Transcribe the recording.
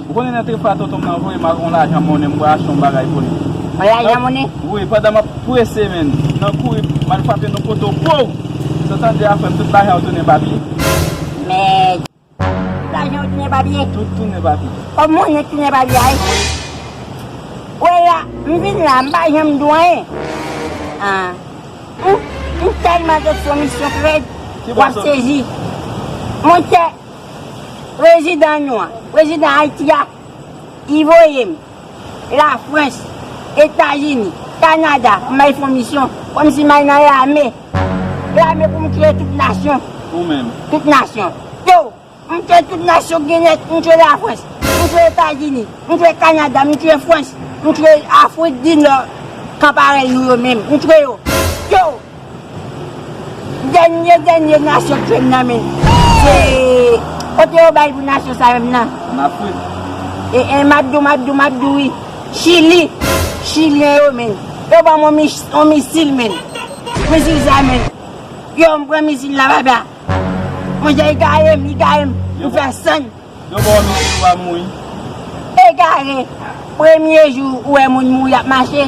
Ou konnen nan trepa tontonm nan voyem ak yon lajan monnen m pral achte yon bagay pou li. Yon lajan monnen? Wi, pandan map prese menn, nan kouri m al frape nan poto pouw! Sa w tande a frèm tout lajan yo tounen papye. Mèd! Tout lajan yo tounen papye? Tout tounen papye. Kòb monnen tounen papye a wi. Ou wè la, m vin la, m pa janm di w anyen. An! M tèlman sot sou yon misyon Fred, wap sezi. Monchè! Prezidan nou an, prezidan Ayiti a, ki voye m, Lafrans, Etazini, Kanada pou m al fè yon misyon, kòm si m al nan lame. Lame pou m touye tout nasyon. Ou menm? Tout nasyon. Yo! M touye tout nasyon gen nèt. M touye Lafrans. M touye Etazini. M touye Kanada. M touye Frans. M touye Afrik di Nò, kanparèy nou yo menm. M touye yo. Yo! Dènye dènye nasyon k fèm nan men se kote yo bay pou nasyon sa menm nan? An afrik. E en map di w map di w map di w wi chili chilyen yo men yo banm on misil men misil sa men yo m pran misil la papa. Monchè li gaye m li gaye m m fè san. Yon bò misye yo a mouri. Egare! Premye jou ou wè moun mouri ap mache?